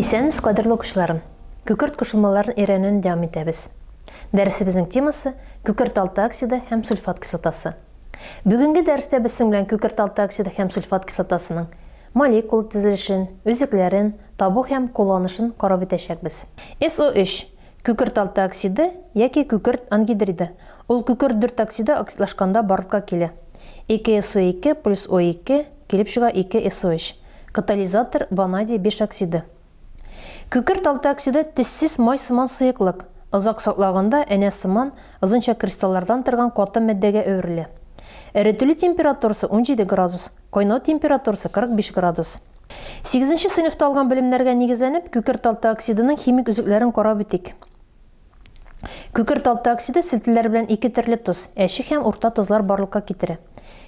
Исәнмез, кадерле укучыларым. Күкерт кушылмаларын өйрәнүне дәвам итәбез. Дәресебезнең темасы күкерт алты оксиды һәм сульфат кислотасы. Бүгенге дәрестә без синең белән күкерталты оксиды һәм сульфат кислотасының молекула төзелешен, өзекләрен табу һәм кулланышын карап үтәчәкбез. SO3, күкерталты оксиды яки күкерт ангидриды, ул күкерт дүрт оксиды оксидлашканда барлыкка килә. 2 SO2 плюс O2 килеп чыга 2 SO3, катализатор, ванадий биш оксиды. Күкерт алтооксиды төссез май сыман сыеклык, озак саклаганда энә сыман, озынча кристаллардан торган каты матдәгә әверелә. Эретелү температурасы 17 градус, кайнау температурасы 45 градус. Сигезенче сыйныфта алган белемнәргә нигезләнеп, күкерт алтооксидының химик өзекләрен карап үтик. Күкерт алты оксиды селтеләр белән ике төрле тоз, әче һәм урта тозлар барлыкка китерә.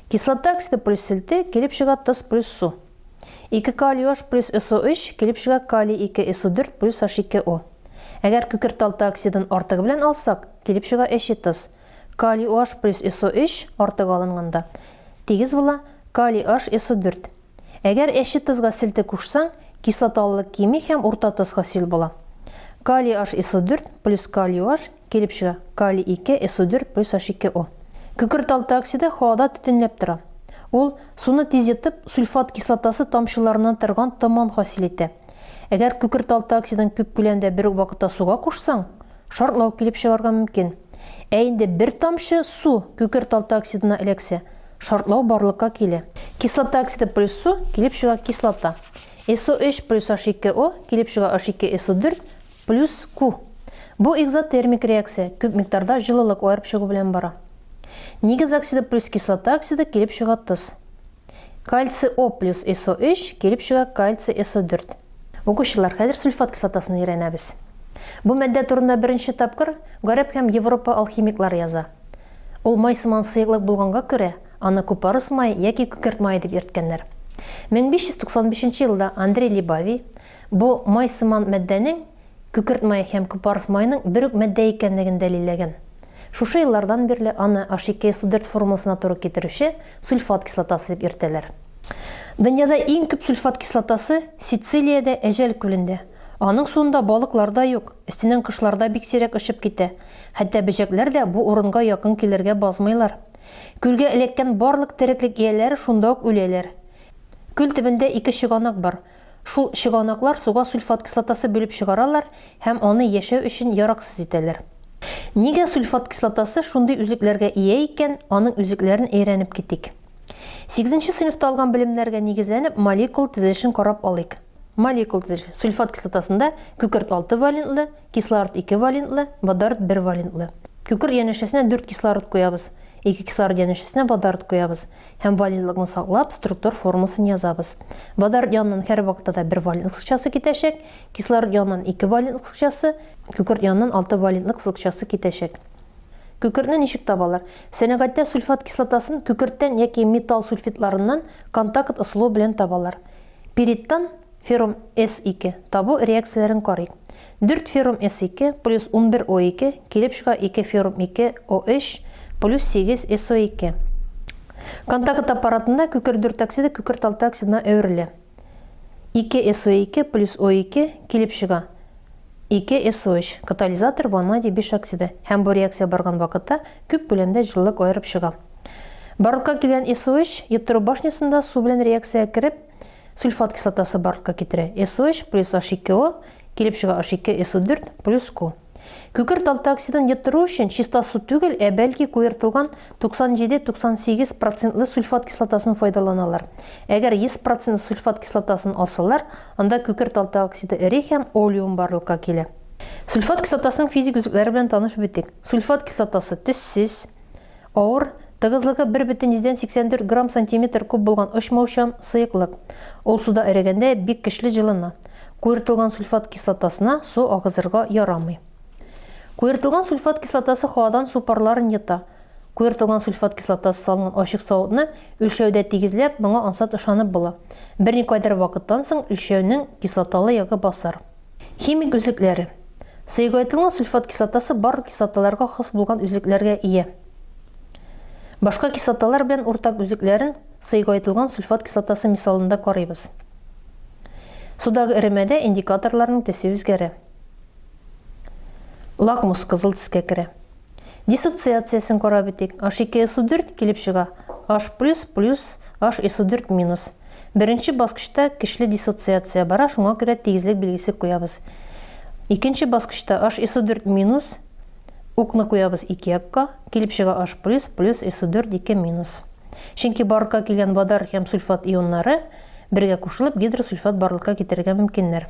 Кислота оксиды плюс селте, килеп чыга тоз плюс су. 2 калий H плюс SO3, килеп чыга калий 2 SO4 плюс H2O. Әгәр күкерт алты оксидын артыгы белән алсак, килеп чыга әче тоз. Калий OH плюс SO3 артыгы алынганда тигез була калий H SO4. Әгәр әче тозга селте кушсаң, кислоталылык кими һәм урта тоз хасил була. Калий HSO4 плюс калий OH килеп чыга, калий 2 SO4 плюс H2O. Көкерт алты оксиды һавада төтенләп тора. Ул, суны тиз йотып, сульфат кислотасы тамчыларыннан торган томан хасил итә. Әгәр көкерт алты оксидын күп күләмдә бер үк вакытта суга кушсаң, шартлау килеп чыгарга мөмкин. Ә инде бер тамчы су көкерт алты оксидына эләксә, Шартлау барлыкка килә. Кислота оксиды плюс су килеп чыга кислота. SO3 плюс H2O килеп чыга H2SO4 плюс Q. Бу экзотермик реакция, күп микъдарда җылылык аерып чыгу белән бара. Нигез оксиды плюс кислота оксиды килеп чыга тыз. Кальций О плюс SO3 килеп чыга кальций SO4. Укучылар, хәзер сульфат кислотасын өйрәнәбез. Бу матдә турында беренче тапкыр гарәп һәм Европа алхимиклары яза. Ул май сыман сыеклык булганга күрә, аны купорос мае яки күкерт мае дип йөрткәннәр. 1595 елда Андрей Либави бу май сыман матдәнең күкерт мае һәм купорос маеның бер үк матдә икәнлеген дәлилләгән. Шушы еллардан бирле аны HCKSO4 формуласына туры китерүче сульфат кислотасы дип йөртәләр. Дөньяда иң күп сульфат кислотасы Сицилиядә Әҗәл күлендә. Аның суында балыклар да юк. Өстеннән кошлар да бик сирәк очып китә. Хәтта бөҗәкләр дә бу урынга якын килергә базмыйлар. Күлгә эләккән барлык тереклек ияләре шунда ук үләләр. Күл төбендә ике чыганак бар. Шул чыганаклар суга сульфат кислотасы бүлеп чыгаралар һәм аны яшәү өчен яраксыз итәләр. Нигә сульфат кислотасы шундый үзлекләргә ия икән, аның үзлекләрен әйрәнеп китик. Сигезенче сыйныфта алган белемнәргә нигезләнеп молекул тезелешен карап алыйк. Молекул төзелеше. Сульфат кислотасында күкерт 6 валентлы, кислород 2 валентлы, водород 1 валентлы. Күкерт янәшәсенә 4 кислород куябыз, 2 кислород янәшәсенә водород куябыз һәм валентлыкны саклап, структур формасын язабыз. Водород яныннан һәрвакытта да 1 валент кысыкчасы китәчәк, кислород яныннан 2 валент кысыкчасы, күкерт яныннан 6 валентлы кысыкчасы китәчәк. Күкертне ничек табалар? Сәнәгатьтә сульфат кислотасын күкерттән яки металл сульфидларыннан контакт ысулы белән табалар. Пириттан феррум С-2 табу реакцияләрен карыйк. Дүрт феррум С-2 плюс унбер О-2 килеп чыга ике феррум ике О-өч плюс сигез СО-2. Контакт аппаратында күкер дүрт оксиды күкерт алты оксидына әверелә. Ике СО-2 плюс О-2 килеп чыга ике СО-өч, катализатор ванадий биш оксиды, һәм бу реакция барган вакытта күп күләмдә җылылык аерып чыга. Барлыкка килгән SOH йоттыру башнясында су белән реакциягә кереп, сульфат кислотасы барлыкка китерә. SOH плюс H2O килеп чыга H2SO4 плюс Q. Күкерт алты оксидын йоттыру өчен чиста су түгел, ә бәлки куертылган 97-98 процентлы сульфат кислотасын файдаланалар. Әгәр 100 процент сульфат кислотасын алсалар, анда күкерт алты оксиды эри һәм олеум барлыкка килә. Сульфат кислотасының физик үзлекләре белән танышып үтик. Сульфат кислотасы төссез, Авыр, тыгызлыгы 1,84 грамм-сантиметр куб булган очмаучан сыеклык. Ул суда эрегәндә бик көчле җылына. Куертылган сульфат кислотасына су агызырга ярамый. Куертылган сульфат кислотасы һавадан су парларын йота. Куертылган сульфат кислотасы салынган ачык савытны өлчәүдә тигезләп, моңа ансат ышанып була. Берникадәр вакыттан соң өлчәүнең кислоталы ягы басар. Химик өзекләре. Сыегоэтлның сульфат кислотасы барлык кислоталарга хас булган өзекләргә ия. Башка кислоталар белән уртак өзекләрен сыегоэтлган сульфат кислотасы мисалында карыйбыз. Судагы эремәдә индикаторларның төсе үзгәрә. Лакмус кызыл төскә керә. Диссоциациясен карап үтик. H2 SO 4 килеп чыга. H плюс плюс H SO 4 минус. Беренче баскычта көчле диссоциация бара, шуңа күрә тигезлек билгесе куябыз. Икенче баскычта H SO 4 минус укны куябыз ике якка, килеп чыга H плюс плюс SO 4 2 минус. Чөнки барлыкка килгән водор һәм сульфат ионнары бергә кушылып гидросульфат барлыкка китерергә мөмкиннәр.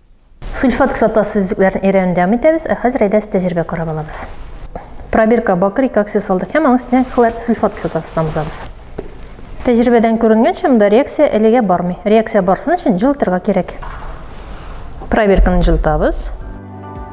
Сульфат кислотасы өзекләрен өйрәнүне дәвам итәбез, ә хәзер әйдәс тәҗрибә карап алабыз. Пробирка бакрик аксия салдык һәм аның өстенә хлор сульфат кислотасын тамызабыз. Тәҗрибәдән күренгәнчә, монда реакция әлегә бармый. Реакция барсын өчен җылытырга кирәк. Пробирканы җылытабыз.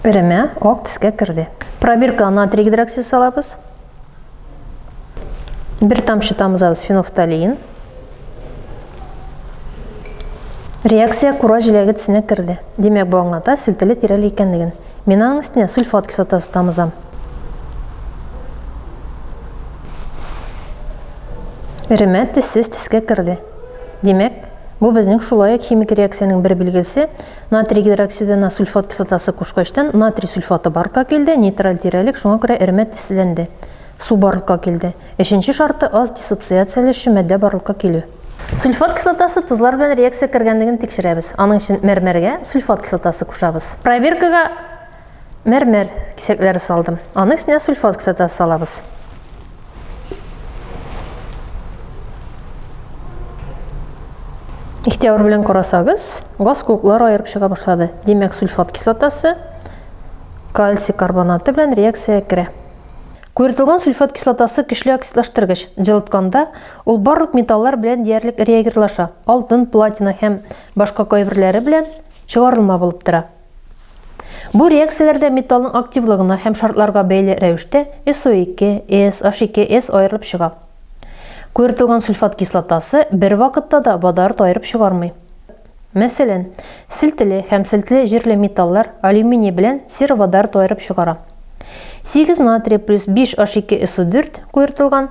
Эремә ак төскә керде. Пробирка натрий гидроксид салабыз. Бер тамчы тамызабыз фенофталин. Реакция кура җиләге төсенә керде. Димәк, бу аңлата селтеле тирәле икәнлеген. Мин аның өстенә сульфат кислотасы тамызам. Эремә тессез тискә керде. Димәк, бу безнең шулай ук химик реакциянең бер билгесе, Натрий гидроксидына сульфат кислотасы кушкачтан натрий сульфаты барлыкка килде, нейтраль тирәлек, шуңа күрә эремә тезләнде. Су барлыкка килде. Өченче шарты аз диссоциацияләшче матдә барлыкка килү. Сульфат кислотасы тозлар белән реакция кергәнлеген тикшерәбез. Аның өчен мәрмәргә сульфат кислотасы кушабыз. Проверкага Мәрмәр кисәкләре салдым. Аның өстенә сульфат кислотасы салабыз. Ихтияр белән карасагыз, газ куклар аерып чыга башлады. Димәк, сульфат кислотасы кальций карбонаты белән реакция керә. Куертылган сульфат кислотасы көчле оксидлаштыргыч. Җылытканда ул барлык металлар белән диярлек реагирлаша. Алтын, платина һәм башка кайберләре белән чыгарылма булып тора. Бу реакцияләр дә металлның активлыгына һәм шартларга бәйле рәвештә SO2, S, H2, S аерылып чыга. Куертылган сульфат кислотасы бер вакытта да водород аерып чыгармый. Мәсәлән, селтеле һәм селтеле җирле металлар алюминий белән сероводород аерып чыгара. 8 натрий плюс 5 H2SO4 куертылган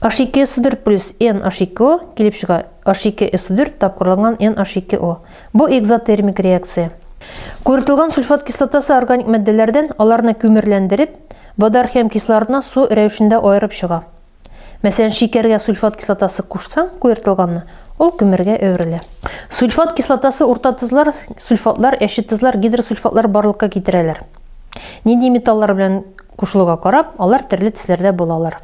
H2 S4 плюс N H2O килеп чыга. H2 S4 тапкырланган N H2O. Бу экзотермик реакция. Күртелгән сульфат кислотасы органик матдәләрдән аларны күмерләндереп, водор һәм кислородны су рәвешендә аерып чыга. Мәсәлән, шикәргә сульфат кислотасы кушсаң, куертылганны, ул күмергә әверелә. Сульфат кислотасы урта тозлар, сульфатлар, әче тозлар, гидросульфатлар барлыкка китерәләр. Нинди металлар белән кушылуга карап, алар төрле төсләрдә булалар.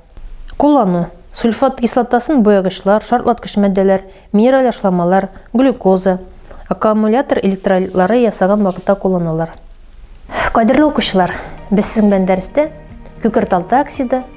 Куллану. Сульфат кислотасын боягычлар, шартлаткыч матдәләр, минераль ашламалар, глюкоза, аккумулятор электролитлары ясаган вакытта кулланалар. Кадерле укучылар, без сезнең белән дәрестә күкерталты оксиды,